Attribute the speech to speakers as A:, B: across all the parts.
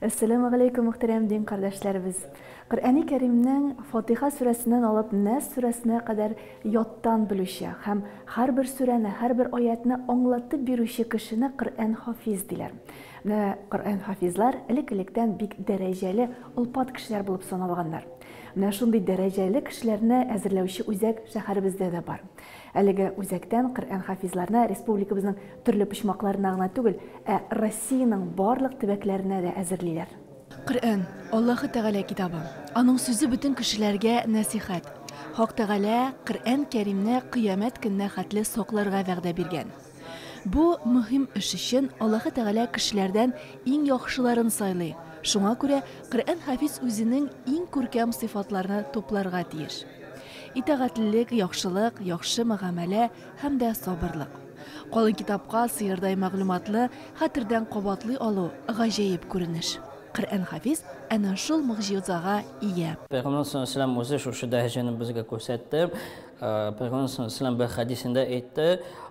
A: Әссәламү галәйкүм, мөхтәрәм дин кардәшләребез! Коръәни Кәримнең Фатиха сүрәсеннән алып Нәс сүрәсенә кадәр яттан белүче һәм һәрбер сүрәне, һәрбер аятьне аңлатып бирүче кешене Коръән хафиз диләр. Менә Коръән хафизлар элек-электән бик дәрәҗәле, олпат кешеләр булып саналганнар. Менә шундый дәрәҗәле кешеләрне әзерләүче үзәк шәһәребездә дә бар. Әлеге үзәктән Коръәнхафизларны республикабызның төрле почмакларына гына түгел, ә Россиянең барлык төбәкләренә дә әзерлиләр. Коръән, Аллаһы Тәгалә китабы. Аның сүзе бөтен кешеләргә нәсыйхәт. Хак Тәгалә Коръән Кәримне кыямәт көненә хәтле сакларга вәгъдә биргән. Бу мөһим эш өчен Аллаһы Тәгалә кешеләрдән иң яхшыларын сайлый, шуңа күрә Коръәнхафиз үзенең иң күркәм сыйфатларны тупларга тиеш. Итагатьлелек, яхшылык, яхшы мөгамәлә һәм дә сабырлык. Калын китапка сыердай мәгълүматлы хәтердән кабатлый алу, гаҗәеп күренеш. Коръән Хафиз әнә шул могҗизага ия. Пәйгамбәребез саллаллаһу галәйһи ва сәлләм
B: үзе шушы дәрәҗәне безгә күрсәтте. Пәйгамбәребез саллаллаһу галәйһи ва сәлләм бер хәдисендә әйтте,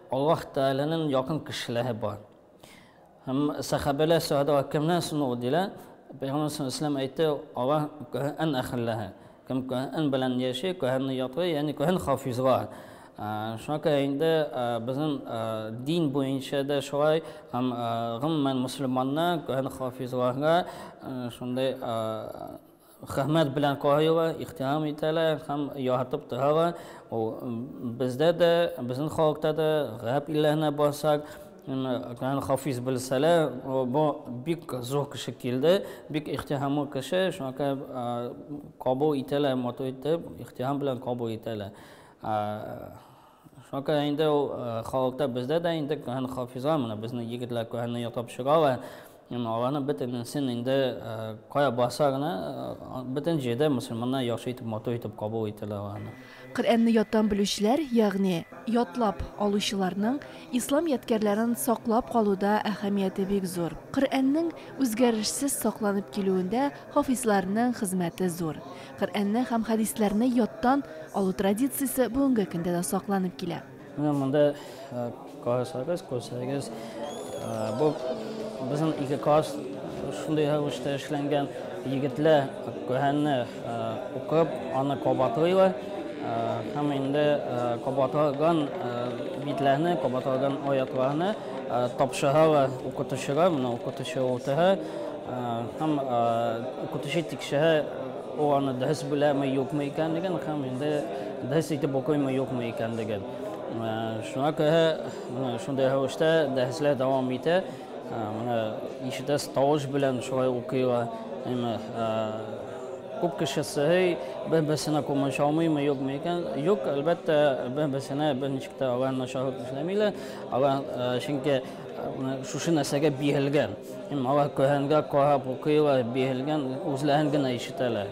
B: Аллаһ Тәгаләнең якын кешеләре бар. Һәм сәхабәләр сорадылар, кемнән соң ул, диләр. Пәйгамбәр саллаллаһу алейһи ва сәлләм әйтте, алар Коръән әһелләре. Кем Коръән белән яши, Коръәнне ятлый, ягъни Коръән хафизлар. Шуңа күрә инде безнең дин буенча да шулай, һәм гомумән мөселманнар Коръән хафизларга шундый Хәмәт белән коелар, ихтирам итәләр һәм яратып торалар. Ул бездә дә, безнең халыкта да, гарәп илләренә барсак, Ган Хафиз белсәләр, бу бик зур кеше килде, бик ихтирамлы кеше, шуңа күрә кабул итәләр, матур итеп, ихтирам белән кабул итәләр. Шуңа инде ул халыкта бездә дә инде кәһән хафизлар, менә безнең егетләр кәһәнне ятлап чыгалар. Әмма аларның бөтенесен инде кая басарына, бөтен җирдә мөселманнар яхшы итеп, матур итеп кабул итәләр аларны. Коръәнне яттан
A: белүчеләр, ягъни ятлап алучыларның ислам ядкәрләрен саклап калуда әһәмияте бик зур. Коръәннең үзгәрешсез сакланып килүендә Хафизларның хезмәте зур. Коръәнне һәм хәдисләрне яттан алу традициясе бүгенге көндә дә сакланып килә. Менә монда
B: карасагыз, күрсәгез, бу безнең ике класс шундый рәвештә эшләнгән. Егетләр Коръәнне укып, аны кабатлыйлар һәм инде кабатланган битләрне, кабатланган аятларны тапшыралар укытучыга. Менә укытучы утыра. Һәм укытучы тикшерә, ул аны дөрес беләме, юкмы икәнлеген, һәм инде дөрес итеп укыймы, юкмы икәнлеген. Шуңа күрә шундый рәвештә дәресләр дәвам итә. Менә ишетәс тавыш белән шулай укыйлар. Әмма күп кеше сорый, бер-берсенә күмәч алмыймы, юкмы икән? Юк, әлбәттә, бер-берсенә берничек тә алар начарлык эшләмиләр. Алар чөнки Менә шушы нәрсәгә биелгән. Һәм алар Коръәнгә карап укыйлар, биелгән, үзләрен генә ишетәләр.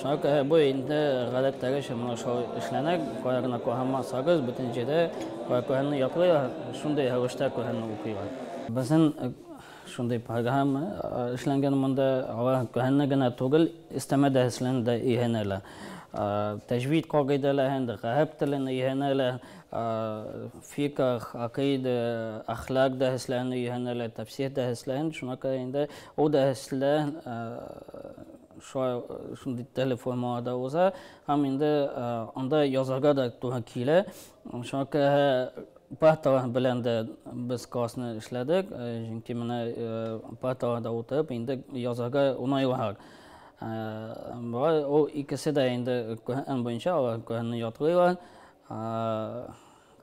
B: Шуңа күрә бу инде гадәттәгечә менә шулай эшләнә. Кая гына карамасагыз, бөтен җирдә Коръәнне яклыйлар, шундый рәвештә Коръәнне укыйлар. Безнең шундый программа эшләнгән монда. Алар Коръәнне генә түгел, өстәмә дәресләрне дә өйрәнәләр. Тәҗвид кагыйдәләрен, гарәп телен өйрәнәләр. фиках, акыйда, әхлак дәһесләрен өйрәнәләр, тәфсир дәһесләрен. Шуңа күрә инде ул дәһесләр шундый теле формаларда уза һәм инде анда язарга да туры килә. Шуңа күрә парталар белән дә без классны эшләдек, чөнки менә парталарда утырып инде язарга уңайлырак. Ул икесе дә инде Коръән буенча алар Коръәнне ятлыйлар.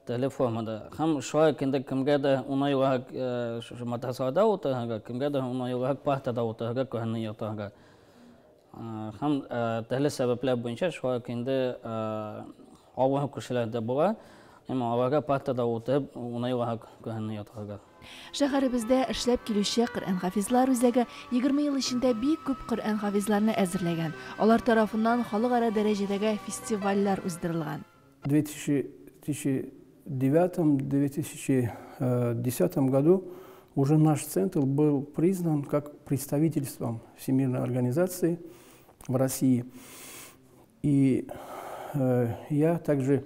B: Теле формада. Һәм шулай ук инде кемгә дә уңайлырак шушы матрацларда утырырга, кемгә дә уңайлырак партада утырырга, күренне ятарга. Һәм төрле сәбәпләр буенча шулай ук инде авыру кешеләр дә була. Әмма аларга партада утырып уңайлырак күренне ятарга. Шәһәребездә
A: эшләп килүче Коръән хафизлар үзәге егерме ел эчендә бик күп Коръән хафизларны әзерләгән, алар тарафыннан халыкара дәрәҗәдәге фестивальләр уздырылган.
C: 2009-2010 э, году уже наш центр был признан как представительством Всемирной организации в России. И э, я также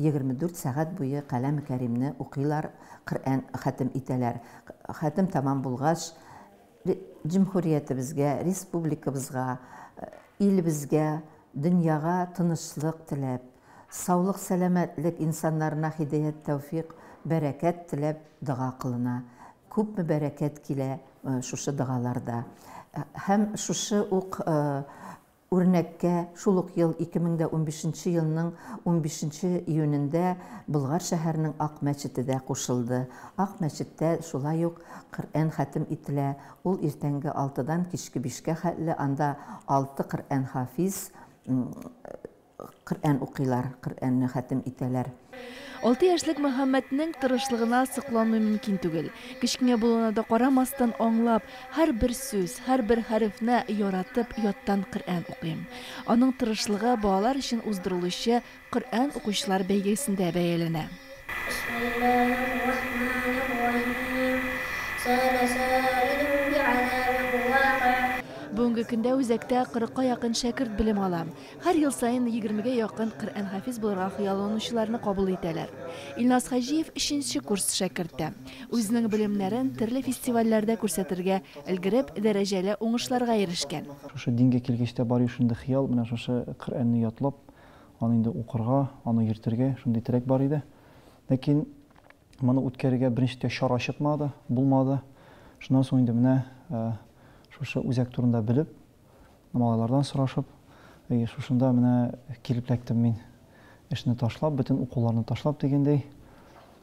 D: Егерме дүрт сәгать буе Каләме Кәримне укыйлар, Коръән хәтем итәләр. Хәтем тәмам булгач, Җөмһүриятебезгә, республикабызга, илебезгә, дөньяга тынычлык теләп, саулык-сәламәтлек, инсаннарына һидәят-тәүфикъ, бәрәкәт теләп дога кылына. Күпме бәрәкәт килә шушы догаларда. Һәм шушы ук Үрнәккә, шул ук ел 2015 нче елның 15 нче июнендә Болгар шәһәренең Ак мәчете дә кушылды. Ак мәчеттә шулай ук Коръән хәтем ителә, ул иртәнге алтыдан кичке бишкә хәтле анда алты Коръән хафиз Коръән укыйлар, Коръәнне хәтем итәләр. Алты яшьлек
A: Мөхәммәтнең тырышлыгына сокланмый мөмкин түгел. Кечкенә булуына да карамастан, аңлап, һәрбер сүз, һәрбер хәрефне яратып, яттан Коръән укый. Аның тырышлыгы балалар өчен уздырылучы Коръән укучылар бәйгесендә бәяләнә. Бүгенге көндә үзәктә кырыкка якын шәкерт белем ала. Һәр ел саен егермегә якын Коръәнхафиз булырга хыялланучыларны кабул итәләр. Илназ Хаҗиев өченче курс шәкерте. Үзенең белемнәрен төрле фестивальләрдә күрсәтергә өлгереп, дәрәҗәле уңышларга ирешкән. Шушы дингә килгәч
E: тә бар ю шундый хыял, менә шушы Коръәнне ятлап, аны инде укырга, аны йөртергә, шундый теләк бар иде. Ләкин моны үткәрергә беренчедә чара чыкмады, булмады. Шуннан соң инде менә шушы үзәк турында белеп, Малайлардан сорашып, әйе, шушында менә килеп эләктем мин. Эшне ташлап, бөтен укуларны ташлап дигәндәй,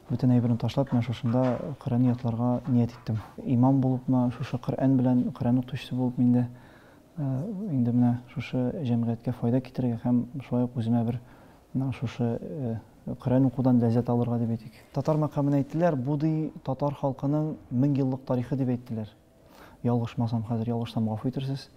E: бөтен әйберне ташлап, менә шушында Коръән ятларга ният иттем. Имам булыпмы, шушы Коръән белән, Коръән укытучысы булып мин дә инде менә шушы җәмгыятькә файда китерергә һәм шулай ук үземә бер менә шушы Коръән укудан ләззәт алырга дип әйтик. Татар мәкамын әйттеләр, бу ди татар халкының мең еллык тарихы дип әйттеләр. Ялгышмасам, хәзер ялгышсам гафу итерсез.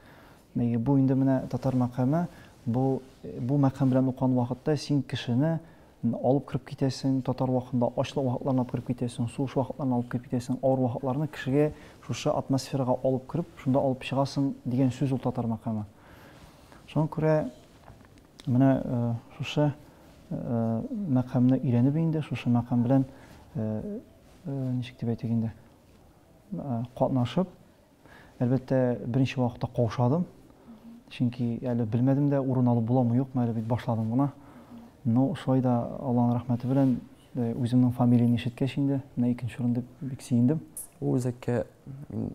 E: Әйе, бу инде менә татар мәкаме, бу бу мәкам белән укыган вакытта син кешене алып кереп китәсең, татар вакытында ачлык вакытларына алып кереп китәсең, сугыш вакытларына алып кереп китәсең, авыр вакытларны кешегә шушы атмосферага алып кереп, шунда алып чыгасың дигән сүз ул татар мәкаме. Шуңа күрә менә э, шушы э, мәкамны өйрәнеп инде, шушы мәкам белән э, ничек дип әйтик инде, катнашып, әлбәттә, беренче вакытта каушадым. Чөнки әле белмәдем дә, урын алып буламы, юкмы, әле бит башладым гына. Но шулай да Алланың рәхмәте белән э, үземнең фамилияне ишеткәч инде, менә икенче урын дип бик сөендем. Ул үзәккә
F: мин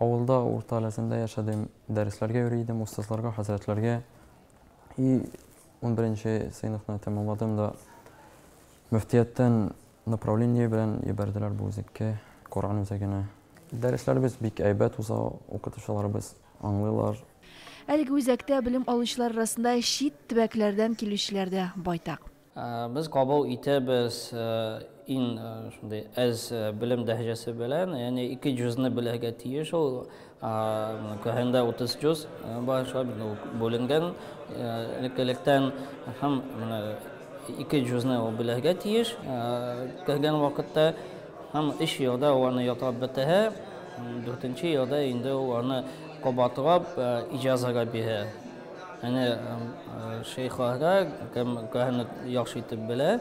F: авылда урта ләзендә яшәдем, дәресләргә йөри идем, остазларга, хәзрәтләргә. И 11 сыйныфны тәмамладым да мөфтияттән Направление белән ебәрделәр бу үзәккә, Коръән үзәгенә. Дәресләребез бик әйбәт уза, укытучыларыбыз аңлыйлар. Әлеге
A: үзәктә белем алучылар арасында чит төбәкләрдән килүчеләр дә байтак. Без кабул
B: итәбез иң шундый әз белем дәрәҗәсе белән, ягъни ике җозны белергә тиеш ул Каһендә 30 җөз бар, шулай бит ул бүленгән элек-электән. Һәм менә ике җөзне ул белергә тиеш кергән вакытта. Һәм өч елда ул аны ятлап бетерә, дүртенче елда инде ул аны кабатлап иҗазага бирә. Әнә шәехләргә, кем каһәнне яхшы итеп белә,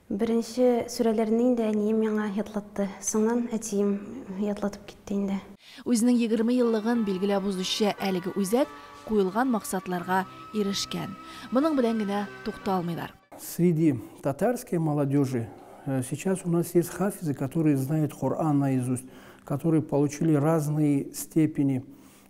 G: Беренче сүрәләрне инде әнием миңа ятлатты, соңнан әтием ятлатып китте инде. Үзенең егерме
A: еллыгын билгеләп узучы әлеге үзәк куелган максатларга ирешкән. Моның белән генә тукталмыйлар. Среди
C: татарской молодежи сейчас у нас есть хафизы, которые знают Коран наизусть, которые получили разные степени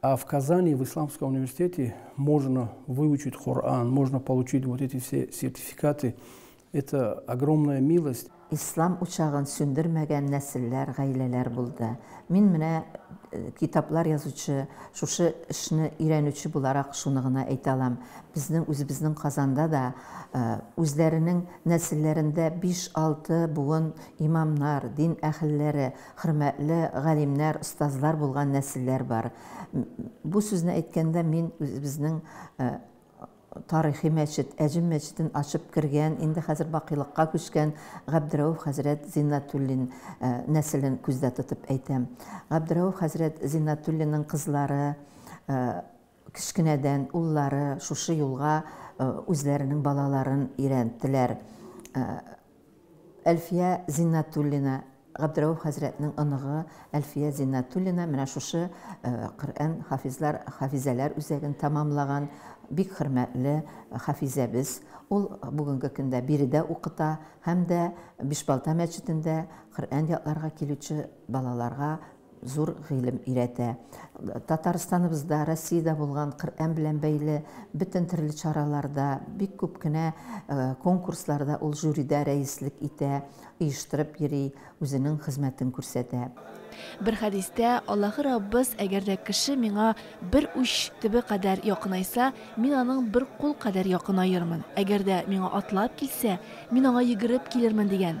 C: А в Казани, в Исламском университете можно выучить Коран, можно получить вот эти все сертификаты. Это огромная милость. Ислам учагын
D: сүндермәгән нәселләр, гаиләләр булды. Мин менә э, китаплар язучы, шушы эшне өйрәнүче буларак шуны гына әйтә алам. Безнең үзебезнең Казанда да э, үзләренең нәселләрендә 5-6 буын имамнар, дин әһелләре, Хөрмәтле галимнәр, остазлар булган нәселләр бар. Бу сүзне әйткәндә мин үзебезнең э, тарихи мәчет, Әҗем мәчетен ачып кергән, инде хәзер бакыйлыкка күчкән Габдрәүф хәзрәт Зиннатуллин э, нәселен күздә тотып әйтәм. Габдрәүф хәзрәт Зиннатуллинның кызлары э, кечкенәдән уллары шушы юлга э, үзләренең балаларын өйрәттеләр. Әлфия Зиннәтуллина, Габдрәүф хәзрәтнең оныгы Әлфия Зиннәтуллина менә шушы Коръән хафизлар, хафизәләр үзәген тәмамлаган бик хөрмәтле хафизәбез. Ул бүгенге көндә биредә укыта һәм дә Бишбалта мәчетендә Коръән ятларга килүче балаларга Зур гыйлем өйрәтә. Татарстаныбызда, Россиядә булган Коръән белән бәйле бөтен төрле чараларда, бик күп кенә конкурсларда ул жюридә рәислек итә, оештырып йөри, үзенең хезмәтен күрсәтә. Бер
A: хәдистә, Аллаһы Раббыз, Әгәр дә кеше миңа бер уч төбе кадәр якынайса, мин аның бер кул кадәр якынаермын, әгәр дә миңа атлап килсә, мин аңа йөгереп килермен, дигән.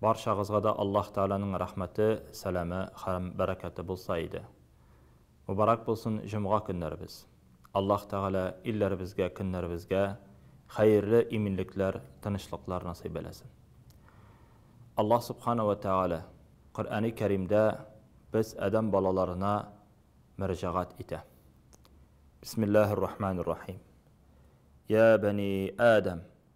H: Барчагызга да Аллаһ Тәгаләнең рәхмәте, сәламе һәм бәрәкәте булса иде. Мөбарәк булсын җомга көннәребез. Аллаһ Тәгалә илләребезгә, көннәребезгә хәерле иминлекләр, тынычлыклар насыйп әйләсен. Аллаһ Субхана вә Тәгалә Коръәни Кәримдә без адәм балаларына мөрәҗәгать итә. Бисмиллаһир-рахманир-рахим. Йә бәни Адәм,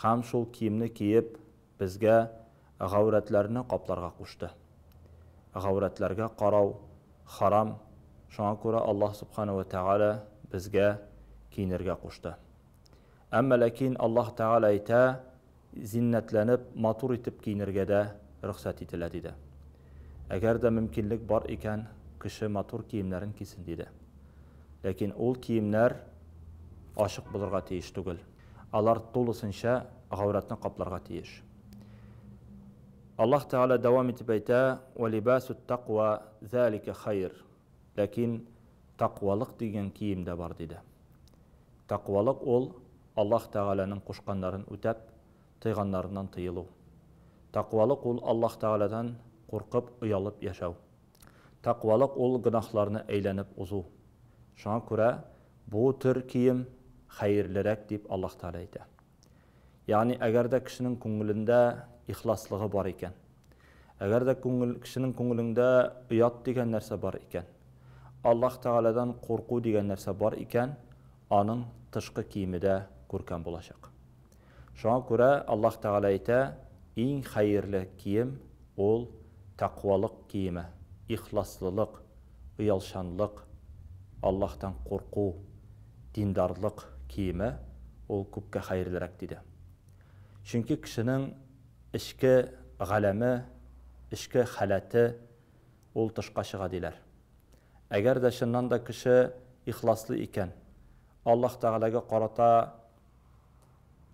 H: һәм шул киемне киеп, безгә гаурәтләрне капларга кушты. Гаурәтләргә карау харам, шуңа күрә Аллаһ Субхана вә Тәгалә безгә киенергә кушты. Әмма ләкин Аллаһ Тәгалә әйтә, зиннәтләнеп, матур итеп киенергә дә рөхсәт ителә, диде. Әгәр дә мөмкинлек бар икән, кеше матур киемнәрен кисен, диде. Ләкин ул киемнәр ачык булырга тиеш түгел. Алар тулысынча гаурәтне капларга тиеш. Аллаһ Тәгалә дәвам итеп әйтә, Вә либасут таква залика хайр. Ләкин таквалык дигән кием дә бар, диде. Таквалык ул, Аллаһ Тәгаләнең кушканнарын үтәп, тыйганнарыннан тыелу. Таквалык ул, Аллаһ Тәгаләдән куркып, оялып яшәү. Тәкъвалык ул гөнаһларны әйләнеп узу. Шуңа күрә бу төр кием хәерлерәк дип Аллаһ Тәгалә әйтә. Ягъни, әгәр дә кешенең күңелендә ихласлыгы бар икән, әгәр дә күңел, кешенең күңелеңдә оят дигән нәрсә бар икән, Аллаһ Тәгаләдән курку дигән нәрсә бар икән, аның тышкы киеме дә күркәм булачак. Шуңа күрә Аллаһ Тәгалә әйтә, Иң хәерле кием, ул, тәкъвалык киеме, ихласлылык, оялчанлык, Аллаһтан курку, диндарлык киеме, ул күпкә хәерлерәк, диде. Чөнки кешенең эчке галәме, эчке халәте, ул тышка чыга, диләр. Әгәр дә чыннан да кеше ихласлы икән, Аллаһ Тәгаләгә карата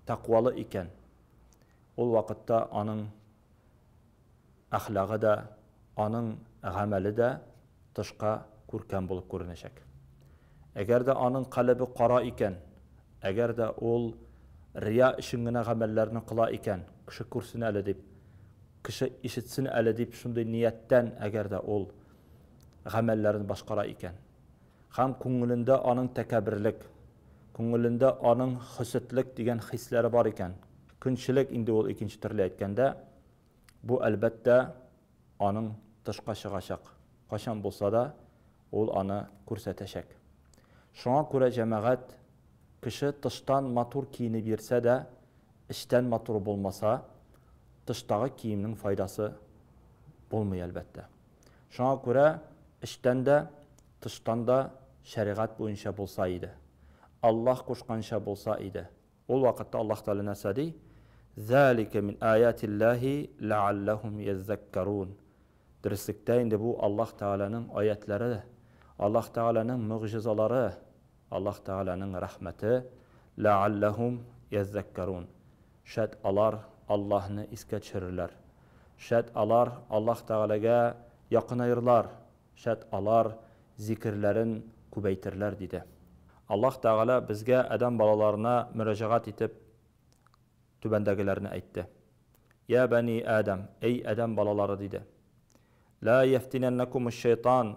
H: тәкъвалы икән, ул вакытта аның әхлагы да, аның гамәле дә тышка күркәм булып күренәчәк. Әгәр дә аның калебе кара икән, әгәр дә ул рия өчен генә гамәлләрне кыла икән, кеше күрсен әле дип, кеше ишетсен әле дип шундый нияттән әгәр дә ул гамәлләрен башкара икән, Һәм күңелендә аның тәкәбберлек, күңелендә аның хөсетлек дигән хисләре бар икән. Көнчелек инде ул икенче төрле әйткәндә. Бу, әлбәттә, аның тышка чыгачак. Кайчан булса да ул аны күрсәтәчәк. Шуңа күрә, җәмәгать, кеше тыштан матур киенеп йөрсә дә, эчтән матур булмаса, тыштагы киемнең файдасы булмый, әлбәттә. Шуңа күрә эчтән дә, тыштан да шәригать буенча булса иде. Аллаһ кушканча булса иде. Ул вакытта Аллаһ Тәгалә нәрсә ди? Залика мин аятиллаһи ләалләһум йәззәккәрун. Дөреслектә инде бу Аллаһ Тәгаләнең аятьләре, Аллаһ Тәгаләнең могҗизалары. Аллаһ Тәгаләнең рәхмәте, Ләәлләһум йәззәккәрун, шәт алар Аллаһны искә төшерерләр, шәт алар Аллаһ Тәгаләгә якынаерлар, шәт алар зикерләрен күбәйтерләр, диде. Аллаһ Тәгалә безгә адәм балаларына мөрәҗәгать итеп түбәндәгеләрне әйтте, Йә бәни Адәм, әй адәм балалары, диде, Ләәйәфтинәннәкумушшәйтан,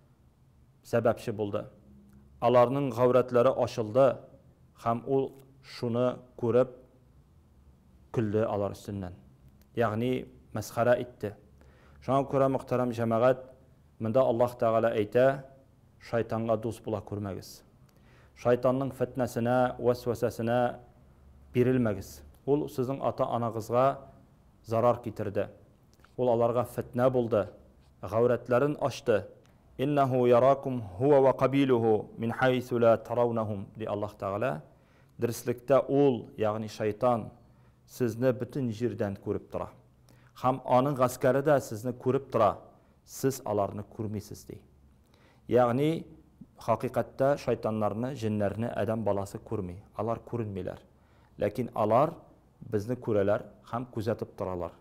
H: сәбәпче булды. Аларның гаурәтләре ачылды һәм ул шуны күреп көлде алар өстеннән. Ягъни мәсхәрә итте. Шуңа күрә, мөхтәрәм җәмәгать, монда Аллаһ Тәгалә әйтә, Шайтанга дус була күрмәгез. Шайтанның фетнәсенә, вәсвәсәсенә бирелмәгез. Ул сезнең ата-анагызга зарар китерде. Ул аларга фетнә булды, гаурәтләрен ачты. Иннәһу яракум һуа вә кабилүһу мин хәйсү лә тараунаһум, ди Аллаһ Тәгалә, Дөреслектә ул, ягъни шайтан, сезне бөтен җирдән күреп тора. Һәм аның гаскәре дә сезне күреп тора, сез аларны күрмисез, ди. Ягъни, хакыйкатьтә шайтаннарны, җеннәрне адәм баласы күрми, алар күренмиләр. Ләкин алар безне күрәләр һәм күзәтеп торалар.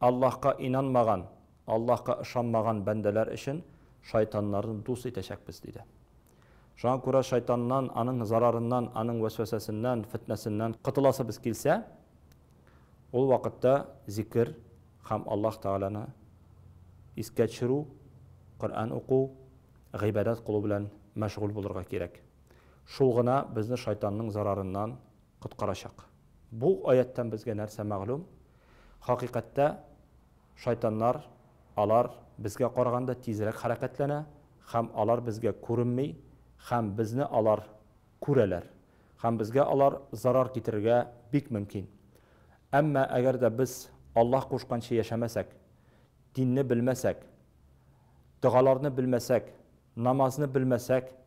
H: Аллаһка инанмаган, Аллаһка ышанмаган бәндәләр өчен шайтаннарны дус итәчәкбез, диде. Шуңа күрә шайтаннан, аның зарарыннан, аның вәсвәсәсеннән, фетнәсеннән котыласыбыз килсә, ул вакытта зикер һәм Аллаһ Тәгаләне искә төшерү, Коръән уку, гыйбадәт кылу белән мәшгуль булырга кирәк. Шул гына безне шайтанның зарарыннан, коткарачак. Бу аятьтән безгә нәрсә мәгълүм? Хакыйкатьтә шайтаннар, алар безгә караганда тизрәк хәрәкәтләнә һәм алар безгә күренми һәм безне алар күрәләр һәм безгә алар зарар китерергә бик мөмкин. Әмма әгәр дә без Аллаһ кушканча яшәмәсәк, динне белмәсәк, догаларны белмәсәк, намазны белмәсәк,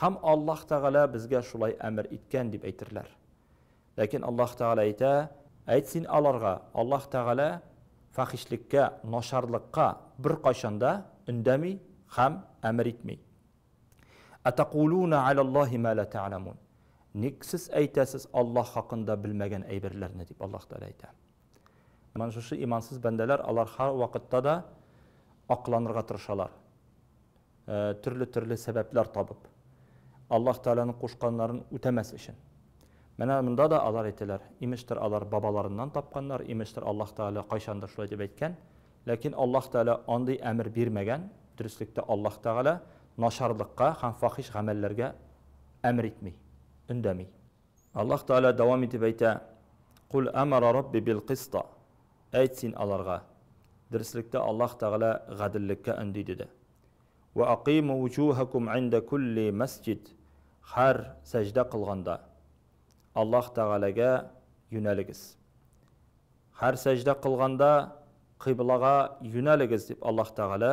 H: Һәм Аллаһ Тәгалә безгә шулай әмер иткән, дип әйтерләр. Ләкин Аллаһ Тәгалә әйтә, Әйт син аларга, Аллаһ Тәгалә фәхишлеккә, начарлыкка беркайчан да өндәми һәм әмер итми. Атакулуна аляллаһи ма ла тәгъламун. Ник сез әйтәсез Аллаһ хакында белмәгән әйберләрне, дип Аллаһ Тәгалә әйтә. Менә шушы имансыз бәндәләр, алар һәрвакытта да акланырга тырышалар. Төрле-төрле сәбәпләр табып, Аллаһ Тәгаләнең кушканнарын үтәмәс өчен. Менә монда да алар әйтәләр, имештер алар бабаларыннан тапканнар, имештер Аллаһ Тәгалә кайчандыр шулай дип әйткән. Ләкин Аллаһ Тәгалә андый әмер бирмәгән. Дөреслектә Аллаһ Тәгалә начарлыкка һәм фахиш гамәлләргә әмер итми, өндәми. Аллаһ Тәгалә дәвам итеп әйтә, Куль әмәра Рабби бил-кыста, Әйт син аларга, Дөреслектә Аллаһ Тәгалә гаделлеккә өнди, диде. Вә акыйму уҗухәкум индә кулли мәсҗид, Һәр сәҗдә кылганда, Аллаһ Тәгаләгә юнәлегез. Һәр сәҗдә кылганда, кыйблага юнәлегез, дип Аллаһ Тәгалә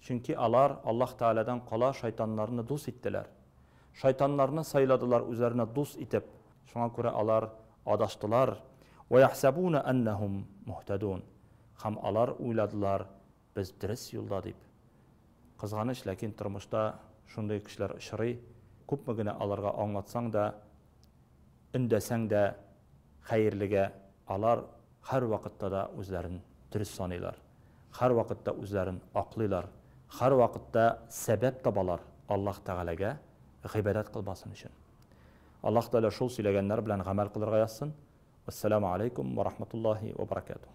H: Чөнки алар Аллаһ Тәгаләдән кала шайтаннарны дус иттеләр. Шайтаннарны сайладылар үзләренә дус итеп, шуңа күрә алар адаштылар, Вәяхсәбуна әннәһум мухтәдун, һәм алар уйладылар, без дөрес юлда дип. Кызганыч, ләкин тормышта шундый кешеләр очрый, күпме генә аларга аңлатсаң да, өндәсәң дә. Хәерлегә, алар һәрвакытта да үзләрен дөрес саныйлар, һәрвакытта үзләрен аклыйлар, һәрвакытта сәбәп табалар Аллаһ Тәгаләгә гыйбадәт кылмасын өчен. Аллаһ Тәгалә шул сөйләгәннәр белән гамәл кылырга язсын. Вәссәламү аләйкүм вә рахматуллаһи вә бәрәкәтүһ.